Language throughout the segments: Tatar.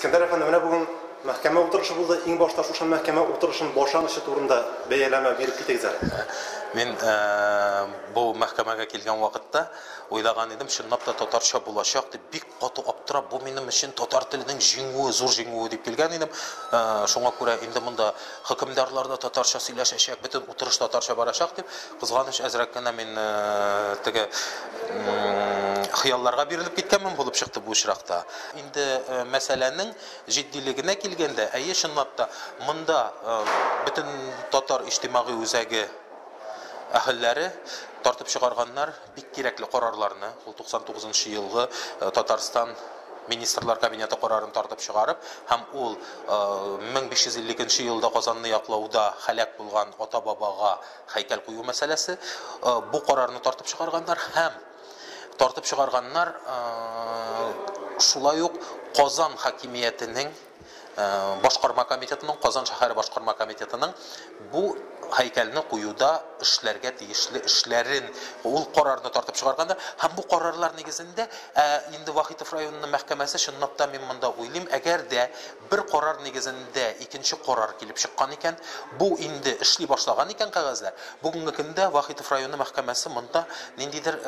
Искәндәр әфәнде, менә бүген мәхкәмә утырышы булды. Иң башта шушы мәхкәмә утырышын башланышы турында бәяләмә биреп китегез әле. Мин э, бу мәхкәмәгә килгән вакытта уйлаган идем, чынлап та татарча булачак дип, бик каты аптырап, бу минем өчен татар теленең җиңүе, зур җиңүе дип килгән идем. Э, шуңа күрә инде монда хөкемдарлар да татарча сөйләшәчәк, бөтен утырыш татарча барачак дип, Кызганыч, әзрәк кенә мин теге хыялларга бирелеп киткәнмен булып чыкты бу очракта. Инде мәсьәләнең җитдилегенә килгәндә, әйе, чынлап та, монда бөтен татар иҗтимагый үзәге әһелләре тартып чыгарганнар бик кирәкле карарларны, ул 99 нчы елгы Татарстан Министрлар Кабинеты карарын тартып чыгарып һәм ул 1552 елда Казанны яклауда һәлак булган ата-бабага Һәйкәл кую мәсьәләсе, бу карарны тартып чыгарганнар һәм тартып чыгарганнар шулай ук Казан хакимиятенең башкарма комитетының, Казан шәһәре башкарма комитетының бу һәйкәлне куюда эшләргә тиешле эшләрен ул карарны тартып чыгарганда һәм бу карарлар нигезендә ә, инде Вахитов районының мәхкәмәсе чынлап та мин монда уйлыйм, әгәр дә Бер карар нигезендә икенче карар килеп чыккан икән. Бу инде эшли башлаган икән кәгазьләр. Бүгенге көндә Вахитов районы мәхкәмәсе монда ниндидер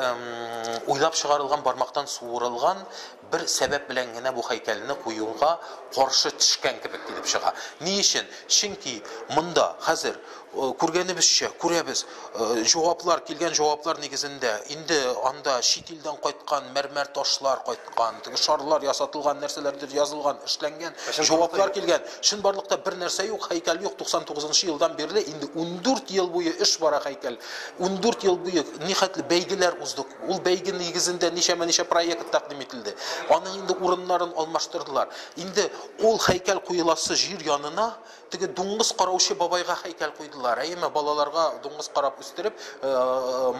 уйлап чыгарылган бармактан суырылган бер сәбәп белән генә бу һәйкәлне куюга каршы төшкән кебек килеп чыга. Ни өчен? Чөнки монда хәзер Э, күргәнебезчә, күрәбез, э, җаваплар, килгән җаваплар нигезендә, инде анда чит илдән кайткан мәрмәр ташлар кайткан, теге шарлар ясатылган, нәрсәләрдер язылган, эшләнгән, җаваплар килгән. Чынбарлыкта бер нәрсә юк, һәйкәл юк. 99 елдан бирле инде 14 ел буе эш бара һәйкәл. 14 ел буе нихәтле бәйгеләр уздык. Ул бәйге нигезендә ничәмә-ничә проект тәкъдим ителде. Аның инде урыннарын алмаштырдылар. Инде ул һәйкәл куеласы җир янына Теге дуңгыз караучы бабайга һәйкәл куйдылар. Әйеме, балаларга дуңгыз карап үстереп,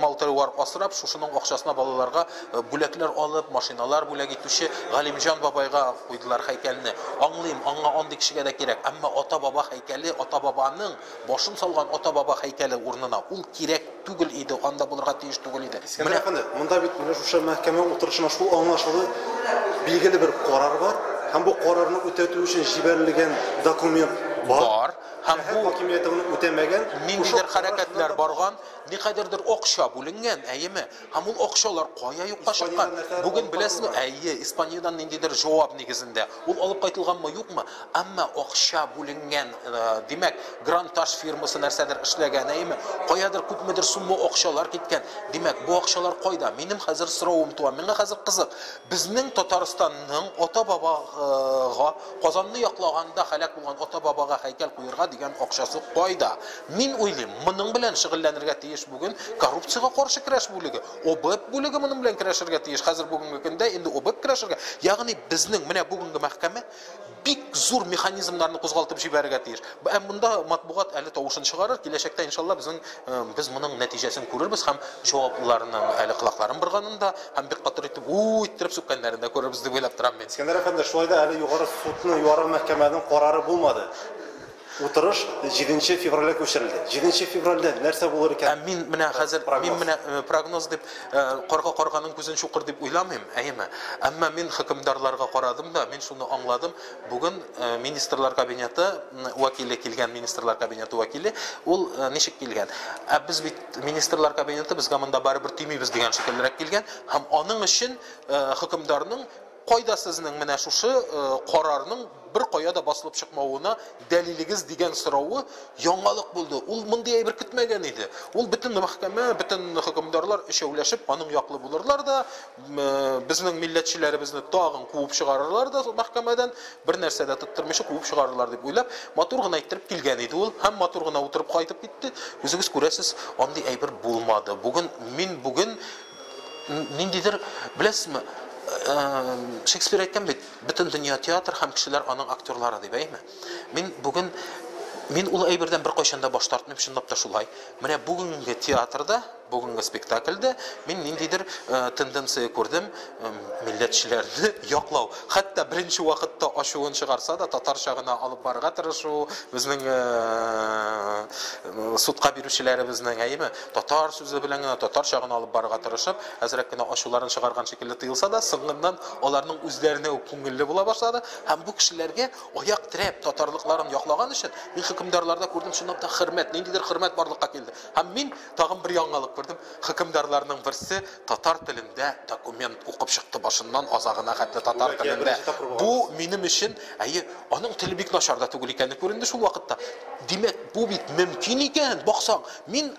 мал-тыруар асрап, шушының акчасына балаларга бүләкләр алып, машиналар бүләк итүче Галимҗан бабайга куйдылар һәйкәлне. Аңлыйм, аңа андый кешегә дә кирәк. Әмма ата-баба һәйкәле, ата-бабаның, башын салган ата-баба һәйкәле урынына ул кирәк. Түгел иде, анда булырга тиеш түгел иде. Искәндәр әфәнде, монда бит менә шушы мәхкәмә утырышында шул аңлашылу билгеле бер карар бар һәм бу карарны үтәтү өчен җибәрелгән документ бар. Бар. Һәм бу хакимияте моны үтәмәгән. Ниндидер хәрәкәтләр барган, никадәрдер акча бүленгән, әйеме? Һәм ул акчалар кая юкка чыккан? Бүген беләсезме? Әйе, Испаниядән ниндидер җавап нигезендә. Ул алып кайтылганмы, юкмы? Әмма акча бүленгән, димәк, Гранташ фирмасы нәрсәдер эшләгән, әйеме? Каядыр күпмедер сумма акчалар киткән. Димәк, бу акчалар кайда? Минем хәзер соравым туа, миңа хәзер кызык, безнең Татарстанның ата-бабага, Казанны яклаганда һәлак булган ата-бабага һәйкәл куерга дигән акчасы кайда? Мин уйлыйм, моның белән шөгыльләнергә тиеш бүген Коррупциягә каршы көрәш бүлеге. ОБЭП бүлеге моның белән көрәшергә тиеш. Хәзер бүгенге көндә инде ОБЭП көрәшергә, ягъни безнең менә бүгенге мәхкәмә бик зур механизмнарны кузгалтып җибәрергә тиеш. Ә монда матбугат әле тавышын чыгарыр, киләчәктә иншалла безнең э, без моның нәтиҗәсен күрербез һәм җаваплыларның әле колакларын борганын да һәм бик катыр итеп у иттереп сүккәннәрен дә күрербез дип уйлап торам мин. Искәндәр әфәнде, шулай да әле югары судны, югары мәхкәмәнең карары булмады. Утырыш җиденче февральгә күчерелде. Җиденче февральдә нәрсә булыр икән? Ә мин менә хәзер, мин менә прогноз дип, карга карганың күзен чукыр дип уйламыйм, әйеме? Әмма мин хөкемдарларга карадым да, мин шуны аңладым, бүген Министрлар Кабинеты вәкиле килгән, Министрлар Кабинеты вәкиле, ул ничек килгән? Ә без бит, Министрлар Кабинеты, безгә монда барыбер тимибез дигән шикеллерәк килгән һәм аның өчен хөкемдарның Кайда сезнең менә шушы карарның беркая да басылып чыкмавына дәлилегез дигән соравы яңалык булды. Ул мондый әйбер көтмәгән иде. Ул бөтен мәхкәмә, бөтен хөкемдарлар өчәүләшеп аның яклы булырлар да, безнең милләтчеләребезне тагын куып чыгарырлар да мәхкәмәдән, бернәрсә дә тоттырмыйча куып чыгарырлар дип уйлап, матур гына иттереп килгән иде ул һәм матур гына утырып кайтып китте. Үзегез күрәсез, андый әйбер булмады. Бүген, мин бүген. Ниндидер, беләсезме, Шекспир әйткән бит, бөтен дөнья театр һәм кешеләр аның актерлары дип, әйме? Мин бүген мин ул әйбердән беркайчан да баш тартмыйм, чынлап та шулай. Менә бүгенге театрда, бүгенге спектакльдә мин ниндидер тенденция күрдем, милләтчеләрне яклау. Хәтта беренче вакытта ачуын чыгарса да, татарча гына алып барырга тырышу, безнең судка бирүчеләребезнең, әйме? Татар сүзе белән генә, татарча гына алып барырга тырышып, әзрәк кенә ачуларын чыгарган шикелле тоелса да, соңыннан аларның үзләренә үк күңелле була башлады һәм бу кешеләргә аяк терәп, татарлыкларын яклаган өчен, мин хөкемдарларда күрдем, чынлап та хөрмәт, ниндидер хөрмәт барлыкка килде. Һәм мин тагын бер яңалык күрдем, хөкемдарларның берсе татар телендә документ укып чыкты, башыннан азагына хәтле татар телендә. Бу минем өчен, әйе, аның теле бик начар да түгел икәне күренде шул вакытта. Димәк, бу бит мөмкин икән, баксаң! Мин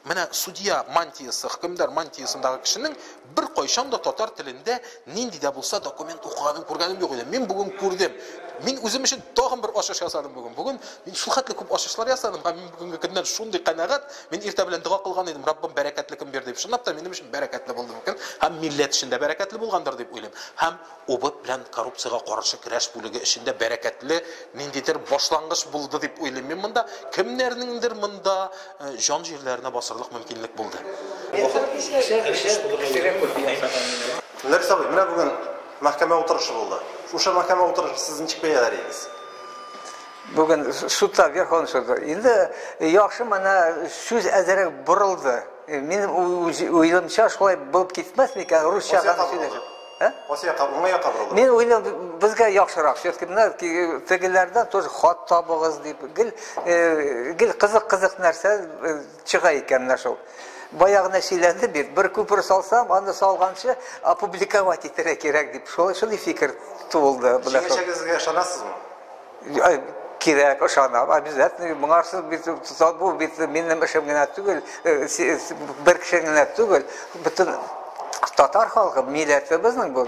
менә судья мантиясы, хөкемдар мантиясындагы кешенең беркайчан да татар телендә нинди дә булса документ укыганын күргәнем юк иде. Мин бүген күрдем. Мин үзем өчен тагын бер ачыш ясадым бүген. Бүген мин шул хәтле күп ачышлар ясадым һәм мин бүгенге көннән шундый канәгать. Мин иртә белән дога кылган идем, Раббым, бәрәкәтле көн бир дип. Чынлап та минем өчен бәрәкәтле булды бу көн һәм милләт өчен дә бәрәкәтле булгандыр дип уйлыйм. Һәм ОБЭП белән коррупциягә каршы көрәш бүлеге өчен дә бәрәкәтле ниндидер башлангыч булды дип уйлыйм мин монда. Кемнәрнеңдер монда җан җирләренә басырлык мөмкинлек булды. Ләбис абый, менә бүген мәхкәмә утырышы булды. Шушы мәхкәмә утырышын сез ничек бәяләр идегез? Бүген судта, Верховный судта. Инде яхшы менә сүз әзерәк борылды. Мин уйлымча шулай булып китмәс микән, русча гына сөйләсәм. Ә? Кайсы якка, уңай якка борылдым. Мин уйлам, безгә яхшырак, все-таки менә тегеләрдән тоже хат табыгыз дип, гел э, гел кызык-кызык нәрсә э, чыга икән менә шул. Баягына сөйләнде бит, бер күпер салсам, аны салганчы опубликовать итәргә кирәк дип, шул шул фикер тулды. Җиңәчәгезгә ышанасызмы? кирәк, ышанам, обязательно моңарсыз бит бу бит минем эшем генә түгел, бер кеше генә түгел, бөтен татар халкы, милләтебезнең бу.